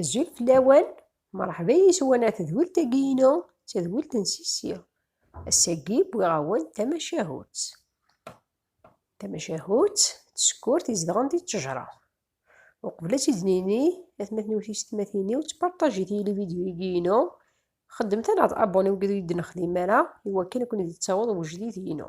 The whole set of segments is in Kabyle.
Azul fell-awen, mṛeḥba yes-wen ar tedwilt-agi-inu, d tadwilt n Sisi. Ass-agi wwiɣ-awen tamacahut. Tamacahut d tsekkurt izedɣen di ttejṛa. Uqbel ad tt-id-nini, atmaten-iw tiysetmatin-iw, ttparṭajit yili vidyu-agi-inu, xedmet-aneɣ-d abonné deg id ur yi-d-nexdim ara, iwakken ad ken-id-yettaweḍ wejdid-inu.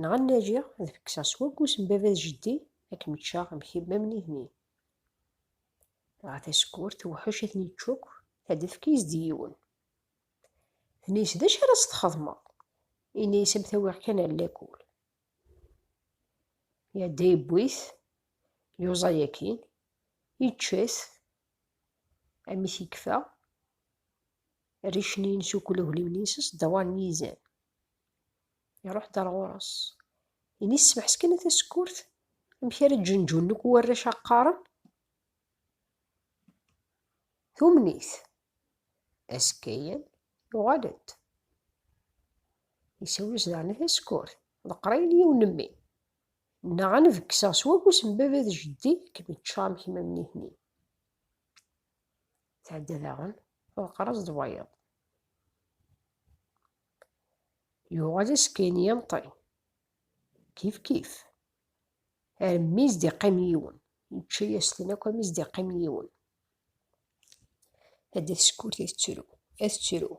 Nɣa nnaǧi ad fekseɣ s waggus n baba d jeddi ad kem-ččeɣ am kemm am nitni. Dɣa tasekkurt tewḥec ad ten-yečč akk, tadda tefka-yas-d i yiwen. Tenna-yas d acu ara s-txedmeḍ? Yenna-yas am tawiɣ kan ar lakul. Iɛedda yewwi-t, yuẓa yakin, yečča-t, amek yekfa, rricen-ines ukk ulagliwen-ines s ddawaṛ n yizan. Iruḥ-d ar ɣur-s. Ini smeḥsken a tasekkurt, amek ara ǧenǧun nekk warrac a qqaren? Tumen-it. Azekka yan yuɣal-d. Isawel-as daɣen a tasekkurt. Ḍeqqer-ayen yiwen mmi. Neɣ ad nbekkseɣ s wafus n baba d jeddi kem-ččeɣ am kemm am nitni. Tɛedda daɣen, ḍeqqer-as-d wayeḍ. Yuɣal askayni yemeṭṭi. Kif kif. Armi i s-d-iqqim yiwen. Yečča-yas-ten akk armi i s-d-iqqim yiwen. Ad d-teskurt ad tettru. Ad tettru.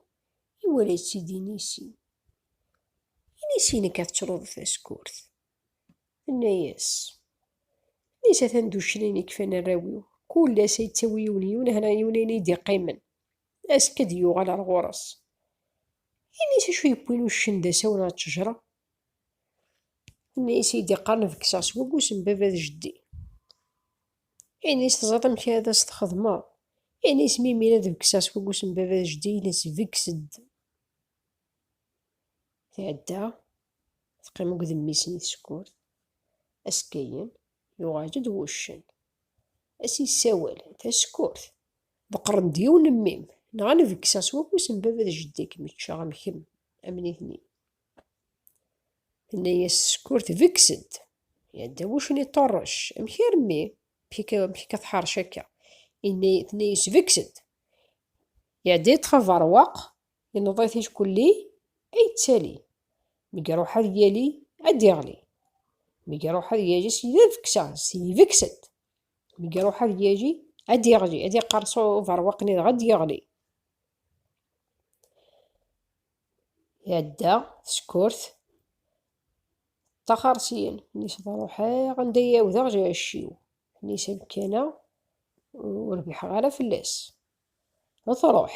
Iwala yettidi inisi. Inisi-inek ad tettruḍ taskurt. Tenna-yas. Inisi atan d uccen ayen i kfan arraw-iw. Kul ass ay yettawi yiwen yiwen, hna yiwen ayen i d-iqqimen. Azekka d yuɣal ar ɣur-s. Ini-s acu yewwin uccen d asawen ar ttejra. Ini-s i d-iqqaren bekkseɣ s waggus n baba d jeddi. Ini-s teẓriḍ amek ara as txedmeḍ. Ini-s mi mira d bekkseɣ s waggus n baba d jeddi ini-s bekkes-d. Tɛedda teqqim akked mmi-s n i tsekkurt. Azekka-yen yuɣal-d wuccen. A s-yessawel, tasekkurt, deqren-d yiwen n mmi-m, neɣ ad nbekkseɣ s wafus n baba d jeddi ad kem-ččeɣ am kemm, am nitni. Tenna-yas tsekkurt, bekkes-d. Iɛedda wuccen iṭṭerrec, amek ar mmi, amek akka tḥerrec akka? Tenna-yas bekkes-d. Iɛedda yeṭṭef aberwaq, Yenneḍ-it ickulli ay yettali. Mi iruḥ ad yali, ad d-iɣli. Mi iruḥ ad yali s yidefksa, s yidefksa-d. Mi iruḥ ad yali, ad d-iɣli, ad iqqers uberwaq-nni dɣa ad d-iɣli. Iɛedda teskurt ṭṭaxar syin, nnis ḍruḥeɣ anda i awdeɣ jacciw. Nnis amkan-a ur biḥeɣ ara fell-as. Ḍruḥ,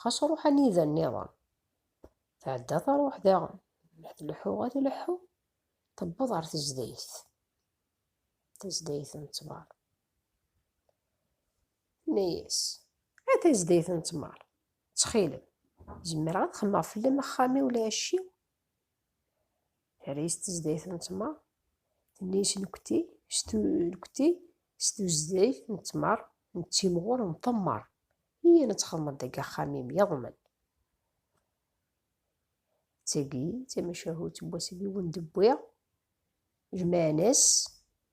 Xas ruḥ anida nniḍen. Tɛedda taruḥ daɣen. Ad tleḥḥu, ad tleḥḥu. Tewweḍ ɣer tezdayt. Tezdayt n ttmer. Tenna-yas, a tezdayt n ttmer, ttxilem, zemreɣ ad xemmeɣ fell-am axxam-iw lɛecc-iw? Terra-yas tezdayt n ttmer. Tenna-yas nekti, nekti s tuzdayt n ttmer, nettimɣur, nṭemmer. Iyya ad txedmeḍ deg axxam-im yeḍmen. D tagi d tamacahut n wasif i wen-d-wwiɣ. Jemɛen-as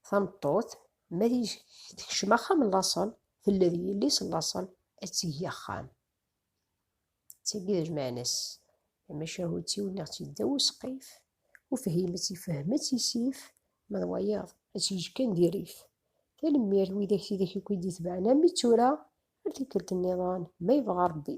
tameṭṭut, ma tekcem axxam n laṣel, tella d yelli-s n laṣel, ad tegi axxam. D tagi d ajemɛen-as tamacahut-iw, nniɣ-tt-id ddaw usqif, Ufhimet ifehmet isif, ma d wayeḍ ad s-yeǧǧ kan di rrif. Tanemmirt widak tidak i k-id-itebɛen armi d tura, ar tikkelt nniḍen ma yebɣa Rebbi.